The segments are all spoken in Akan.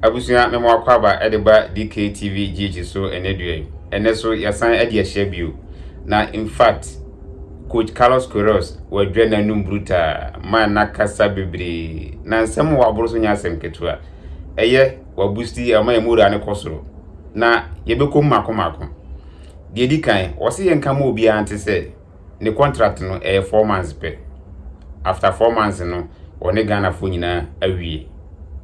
Abusua me mo akwaaba de ba DKTV GH so ɛnɛ dua yi. Ɛnɛ so yɛsan adi ahyɛ bio. Na in fact, Coach Carlos Queiroz wadwa n'anum brutaa ma n'akasa bebree. Na nsɛm wɔ aboro so nyɛ asɛm ketewa. Ɛyɛ wabusti ama yɛn mura no kɔ soro. Na yɛbɛkɔ mu mako mako. Deɛ di kan, wɔse yɛnka ma obiara nte sɛ ne contract no ɛyɛ four months pɛ after four months no ɔne Ghanafoɔ nyinaa awie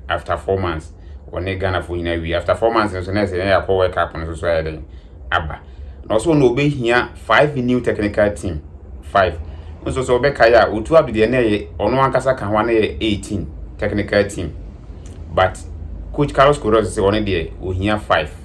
after four months ɔne Ghanafoɔ nyinaa awie after four months no so na ɛsɛ yɛn akɔ World Cup no so so ayɛ dɛn aba na ɔsɛ ɔno ɔbɛhia five new technical team five nso sɛ ɔbɛkae a otu ado deɛ na ɛyɛ ɔno ankasa ka ho a na ɛyɛ eighteen technical team but coach Carlos Queiroz sɛ ɔno deɛ ɔhia five.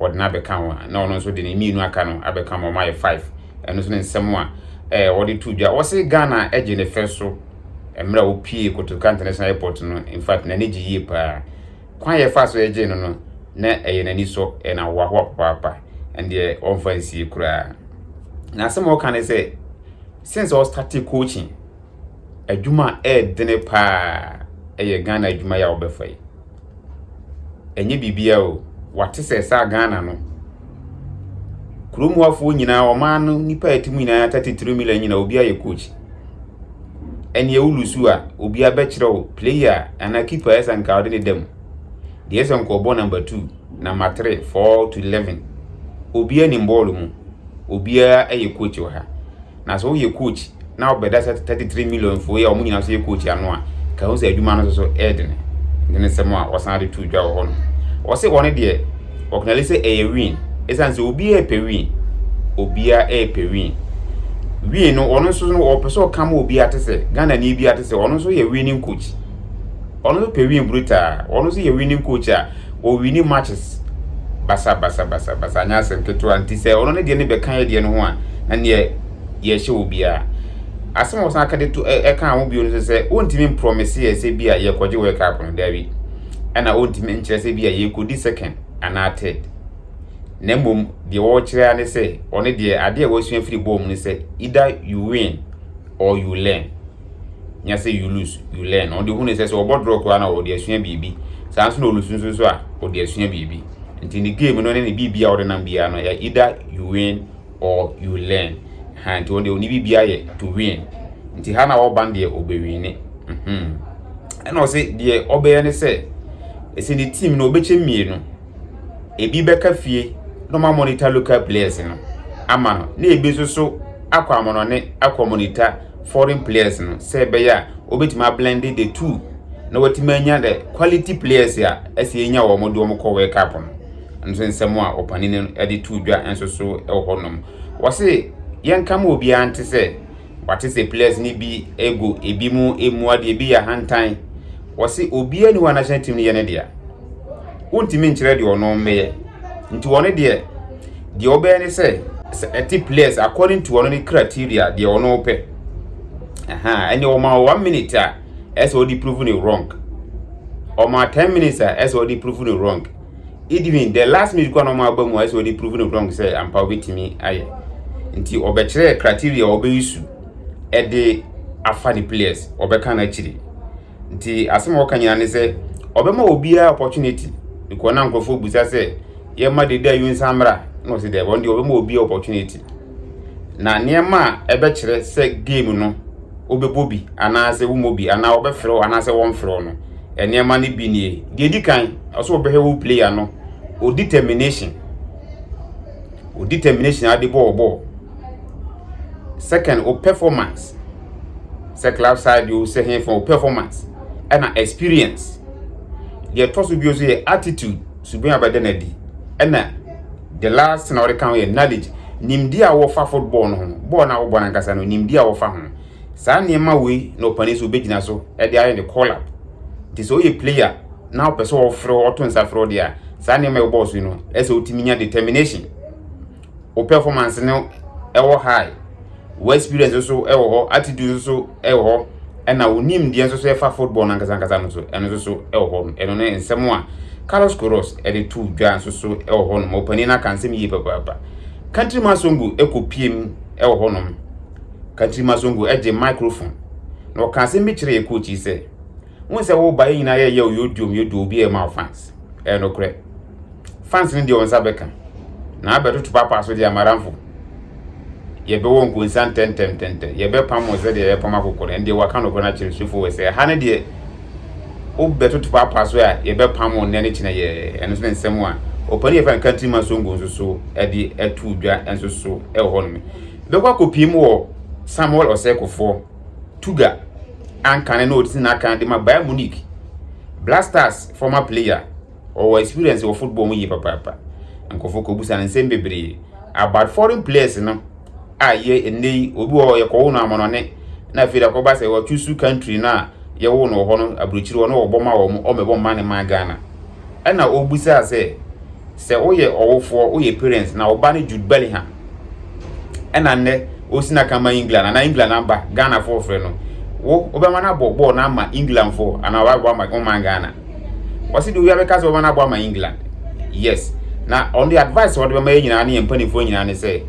wɔde no abɛka ho a, na ɔno nso de ne mmienu aka no abɛka ma ɔma yɛ five. Ɛno nso ne nsɛm a ɛɛ wɔde to dwa. Wɔse Ghana agye ne fɛ so mmerɛ a wɔpie Kotoka International Airport no. In fact, n'ani gye yie paa. Kwan a yɛfaa so yɛgyee no no, na ɛyɛ n'ani sɔ, ɛyɛ no ahoahoa papaapa. Ɛndeɛ ɔmfa nsie koraa. Na asɛm a ɔka ne sɛ, since ɔstate coaching, adwuma a ɛɛdene paa ɛyɛ Ghana adwuma yi a wɔbɛfa yi. Ɛnyɛ biribiara o, wɔate sɛ saa Ghana no, kurom hɔfoɔ nyinaa, ɔman no nnipa a ɛte mu nyinaa, 33 million nyinaa, obi ayɛ coach. Ɛnneɛ wo lusu a, obi abɛkyerɛ wo player anaa keeper ɛsɛ nka wode ne da mu. Deɛ ɛsɛ nka ɔbɔ number two, number three, four to eleven. Obiara nim bɔɔlo mu. Obiara yɛ coach wɔ ha. Na sɛ woyɛ coach na wobɛda sɛ 33 million fo yi a wɔn nyinaa nso yɛ coach ano a, ka ho sɛ adwuma no nso so ɛyɛ dene. Ɛno ne nsɛm a wɔsan de to dwa wɔ hɔ no. Wɔse wɔn deɛ wɔknale sɛ ɛyɛ win. Ɛsiane sɛ obiara repɛ win. Obiara repɛ win. Win no wɔn nso no wɔpɛ sɛ ɔka ma obiara te sɛ Ghanani biara te sɛ wɔn nso yɛ winning coach. Ɔno nso pɛ win brutaa. Ɔno nso yɛ winning coach a ɔwini matches basabasabasabasa anyɛ asɛm ketewa nti sɛ ɔno ne deɛ ne bɛka yɛ deɛ no ho a na neɛ yɛhyɛ wɔ biara. Asɛm a wɔsan ka de to ɛka ho bio no sɛ sɛ ɔntumi mprɔmese yɛ sɛ bi a yɛkɔgye World Cup no daabi ɛna ɔntumi nkyerɛ sɛ bi a yɛkɔdi second anaa third na mmom deɛ wɔkyerɛ ara ne sɛ ɔne deɛ adeɛ a wɔasua firi bɔɔl mu ne sɛ either you win or you learn. nya sɛ Yulus, Yulen, ɔde hu ne sɛ sɛ ɔbɔ drɔ koraa na ɔde asua biribi. Saa nso na Olus nso nso a ɔde asua biribi. Nti ne game no ne ne biribi a ɔde nam biara no yɛ either you win or you learn. Ha nti ɔde ɔne biribi ayɛ to win. Nti ha na ɔba no deɛ ɔbɛwini. Mhm. Ɛna ɔse deɛ ɔbɛyɛ ne sɛ ɛsɛ ne team no ɔbɛkyɛ mmienu. Ebi bɛka fie na ɔma monitor local players no ama no na ebi nso so akɔ amanɔne akɔ monitor foreign players no sɛ ɛbɛyɛ a wɔbɛtumi ablende the two na wɔatumi anya the quality players a ɛsɛ yɛnya wɔn de wɔn kɔ World Cup no nso nsɛm a ɔpanin no de to dwa nso so wɔ hɔnom wɔse yɛnka ma obiara nte sɛ wɔate sɛ players no bi ego ebi mu emu adeɛ ebi yɛ ahantan wɔse obiara ni wɔ national team no yɛ ne deɛ wontumi nkyerɛ deɛ ɔno mmɛyɛ nti wɔn deɛ deɛ ɔbɛyɛ ne sɛ sɛ ɛte players according to ɔno ne criteria deɛ ɔno ɔpɛ ɛha ɛne ɔma one minute a ɛsɛ ɔde prove ne wrong ɔma ten minutes a ɛsɛ ɔde prove ne wrong even the last minute kwan ɔma aba mu a ɛsɛ ɔde prove ne wrong sɛ ampa ɔbɛtumi ayɛ nti ɔbɛkyerɛ criteria ɔbɛyi su ɛde afa ne players ɔbɛka no akyiri Nti asɛm a wɔka nyinaa ne sɛ ɔbɛma obiara opportunity. Nkɔ na nkurɔfoɔ bisa sɛ yɛma Dede Ayew nsan mmra na ɔsi dɛ wɔn deɛ ɔbɛma obiara opportunity. Na nneɛma a ɛbɛkyerɛ sɛ game no wobɛbɔ bi anaasɛ womɔ bi anaa wɔbɛfrɛ wo anaasɛ wɔmfrɛ wo no nneɛma no bi nie. Deɛ ɛdi kan ɔsɛ ɔbɛhwɛ wo player no o determination. o determination ade bɔ ɔbɔ second o performance sɛ club side o sɛ hefa o performance ɛna experience deɛ ɛtɔ so bio so yɛ attitude suban a bɛda no adi ɛna the last na wɔde ka ho yɛ knowledge nimdeɛ a wɔfa football no ho bɔɔl no a wɔbɔ no ankasa no nimdeɛ a wɔfa ho Saa nneɛma wei na ɔpanin so bɛgyina so de ayɛ ne call up. Nti sɛ woyɛ player na wopɛ sɛ wɔfrɛ wo, wɔto nsa frɛ wo deɛ a, saa nneɛma a ɛwobɔɔ so yi no, ɛsɛ wotumi nya determination. Wo performance no ɛwɔ high, wo experience nso ɛwɔ hɔ, attitude nso so ɛwɔ hɔ, ɛna wo nimdeɛ nso so ɛfa football no ankasa ankasa no so, ɛno nso so ɛwɔ hɔ. Ɛno ne nsɛm a Carlos Queiroz de too dwa nso so ɛwɔ hɔ nom. Ɔpanin no aka nsɛm yie papaapa. Countryman Songo ɛkɔpiem ɛwɔ hɔ nom. Katri Masongo gyee microphone na ɔkaa asɛm bi kyerɛɛ yɛ coach yi sɛ, wohu sɛ woba yɛ nyinaa yɛyɛ wo yɛ duom yɛ duo obi ɛma wo fans. Ɛyɛ nokorɛ. Fans no deɛ wɔn nsa bɛka na abɛtoto papa so deɛ amaranfo. Yɛbɛwɔ nkonsa ntɛntɛntɛntɛ. Yɛbɛpam wɔn sɛdeɛ yɛpam akokɔ no. Ɛno deɛ waka nokorɛ no akyerɛ sufo wɔ sɛ ɛha no deɛ wobɛtoto papa so a yɛbɛpam wɔn nnɛ ne kyena yɛ. Ɛno nso ne nsɛm a ɔpanin yɛfrɛ no Katri Masongo nso so de ato dwa nso so wɔ hɔ nom. bɛkɔ akɔpiem wɔ Samuel Ɔsɛekofoɔ, Tuga, ankane na ɔdisi n'akan de ma Bayern Munich. Black Stars former player, ɔwɔ experience wɔ football mu yie papaapa. Nkurɔfoɔ kɔbusa no nsɛm bebree about foreign players no a yɛ ɛnnɛ yi obi wɔ hɔ yɛkɔwo no amanɔne na afei da kɔba sɛ wɔchusu country no a yɛwo no wɔ hɔ no aburokyiri hɔ na wɔbɔ ma wɔn ɔmmɛbɔ mma ne man Ghana. Ɛna ɔbusaa sɛ Sɛ woyɛ ɔwofoɔ, woyɛ parents na wo ba ne Jude Bellingham ɛna nnɛ ɔsi n'aka ma England anaa England aba Ghana foɔ frɛ no wo wobɛma no abɔ bɔɔl no ama England foɔ anaa wabɔ ama ɔman Ghana wɔsi de obi abɛka sɛ wɔbɛma no abɔ ama England yes na on the advice wɔde bɛma yɛ nyinaa ne yɛn mpanimfoɔ nyinaa ne sɛ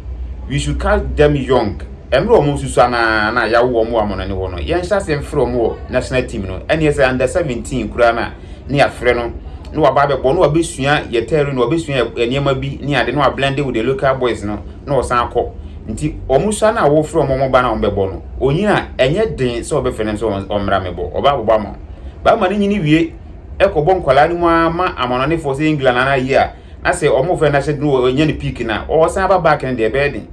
we should catch them young ɛmmerɛ wɔn susua naa na yawo wɔn wɔ amɔnɔne hɔ no yɛn hyɛ ase mfrɛ wɔn wɔ national team no ɛne ɛsɛ under 17 koraa na ne yɛafrɛ no na waba abɛbɔ na wabɛsua yɛ tɛri na wabɛsua yɛ nneɛma bi ne ade na wablende with the local boys no na ɔsan akɔ nti wɔn sua no a wɔfrɛ wɔn wɔn ba no a wɔbɛbɔ no ɔnyini a ɛnyɛ den sɛ wɔbɛfrɛ no sɛ ɔmmra mɛbɔ ɔba abɔbɔ ama wo bɛrima no nyini wie ɛkɔbɔ nkwadaa no mu ara ma amanɔnefoɔ sɛ England anaa yie a na sɛ wɔn fɛ no ahyɛ no ɔnya no piiki no a ɔsan aba back no deɛ ɛbɛyɛ den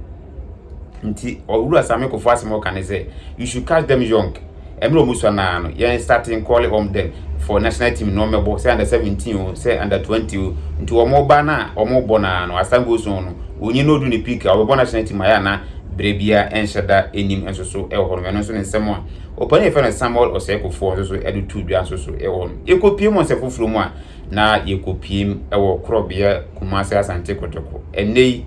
nti owura same kofo asɛm ɔka ne sɛ you should catch them young ɛmmerɛ ɔmo sua naa no yɛn starting calling on them for national team na ɔmo bɔ sɛ under 17 o sɛ under 20 o nti ɔmo ba no a ɔmo bɔ naa no asan goes on no onye no odu ne peak a ɔbɛbɔ national team ayɛ na berɛ bia ɛnhyɛ da anim nso so ɛwɔ hɔ no ɛno nso ne nsɛm a ɔpani yɛfɛ no Samuel Osei Kufuor nso so ɛde tu dwa nso so ɛwɔ hɔ no yɛkɔ pie mu ɔnsɛ foforɔ mu a na yɛkɔpuem wɔ korɔbea Kumase Asante Kotoko. Ɛnnɛ yi,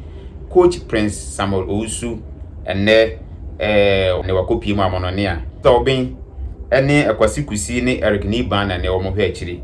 coach Prince Samuel Owusu ɛnnɛ ɛɛ ne wakɔpue mu Amonone a Tɔben ɛne Kwasi Kusi ne Eric Niban na ɛnɛ wɔn hwɛ akyiri.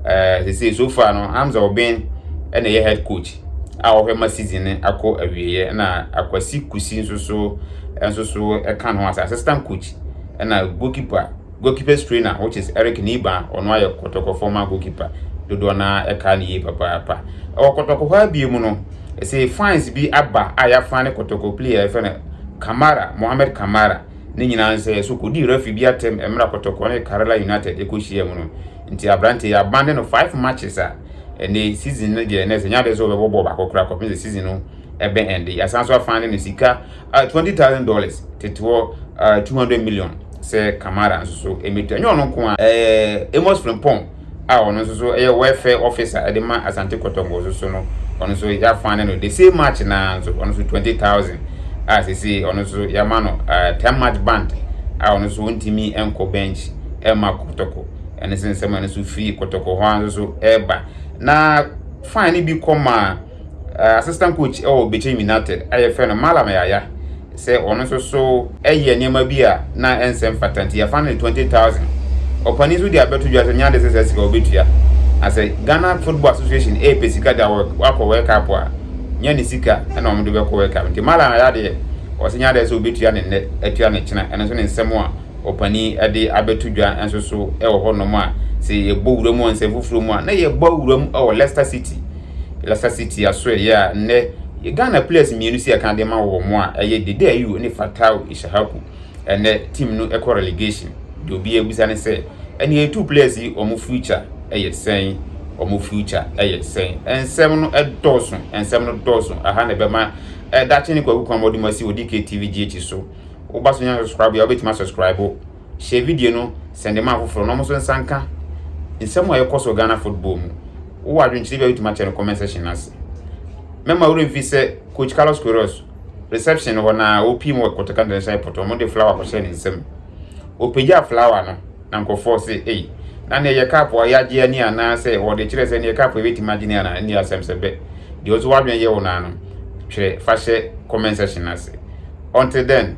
Ɛɛ sese so far no Hamza Oben ɛna ɛyɛ head coach a ɔhwɛ ma season no akɔ awieɛ na Akwasi Kusi nso so nso so ɛka ne ho asɛ assistant coach ɛna goalkeeper Goalkeeper's trainer which is Eric Nieba a ɔno ayɛ kɔtɔkɔ former goalkeeper dodoɔ no ara ɛkaa no yie papaapa. Ɛwɔ kɔtɔkɔ hɔ ara bio mu no ɛsɛ fans bi aba a yɛafan ne kɔtɔkɔ player a yɛfrɛ no Kamara, Mohamed Kamara ne nyinaa nsɛ ɛso kɔdii referee bi atɛm mmerɛ a kɔtɔkɔ ne Karela United ɛkɔ hyia mu no. Nti aberanteɛ yi abande no five matches a ɛnɛ season no deɛ ɛnɛ sɛ nyɛ adeɛ sɛ ɔbɛbɔ bɔɔl baako koraa kɔpem sɛ season no ɛbɛ ɛnde. Yɛasan so afane no sika a twenty thousand dollars tete hɔ a two hundred million sɛ kamara nso so ɛmɛtua nyɛ ɔno nko a ɛɛ amos frimpong a ɔno nso so ɛyɛ welfare officer ɛde ma asante kɔtɔngɔ nso so no ɔno nso yɛafa ne no the same march naa nso ɔno nso twenty thousand a sisi ɔno nso yɛama no ɛɛ ten march band a ɔno nso ntumi nkɔ bench ɛma kɔtɔkɔ ɛne sɛ nsɛm a ɛno nso firi kɔtɔkɔ hɔ a nso so ɛɛba na fine no bi kɔ maa eh, assistant coach wɔ Bekyem United a yɛfrɛ no Malam Yaya sɛ ɔno nso so yɛ nneɛma bi a na ɛnsɛ mfata nti yɛfa no ne 20000 ɔpani nso de abɛto dwa sɛ nyade sɛ saa sika wɔbɛtua na sɛ Ghana Football Association ɛpɛ sika de wakɔ World Cup a nya ne sika na wɔn de bɛkɔ World Cup nti Malam Yaya deɛ ɔsɛ nyade sɛ ɔbɛtua ne nnɛ atua ne kyena ɛno nso ne nsɛm a ɔpani de abɛto dwa nso so ɛwɔ hɔ nom a sɛ yɛbɔ wura mu nsɛm foforɔ mu a na yɛbɔ wura mu ɛwɔ Leicester City Lasa City asoɛyɛ a nnɛ Ghana players mmienu sɛ ɛka de ma wɔn a ɛyɛ Dede Ayew ne Fatawu Ishahaku. Ɛnnɛ team no kɔ relegation. Deɛ obiara bisa ne sɛ ɛnneɛ yɛtu players yi wɔn future yɛ sɛn? Wɔn future yɛ sɛn? Nsɛm no dɔɔso, nsɛm no dɔɔso. Aha na ɛbɛma ɛdakye ne Kwaku Kwamɔdom asi wɔ DKTV GH so. Woba so nya subscribe a wobɛtumi asubscribe. hyɛ video no sɛn de ma afoforɔ na wɔn nso nsa nka nsɛm a ɛkɔ so Ghana football mu. Wowɔ adwenkyerɛ bi a wotumi akyɛ no comment section no ase. Mɛma wo remfi sɛ coach Carlos Queiroz reception no hɔ na ɔpii mu wɔ Kotaka International Airport wɔn de flower kɔhyɛ ne nsam. Ɔpagyaa flower no na nkurɔfoɔ se ei na neɛ yɛ cup a yɛagye ani anaa sɛ wɔde kyerɛ sɛ neɛ cup yɛbɛtumi agye ne anaa ɛne asɛm sɛ bɛ. Deɛ nso w'adwene yɛ wo naa no twerɛ fa hyɛ comment section no ase. Until then,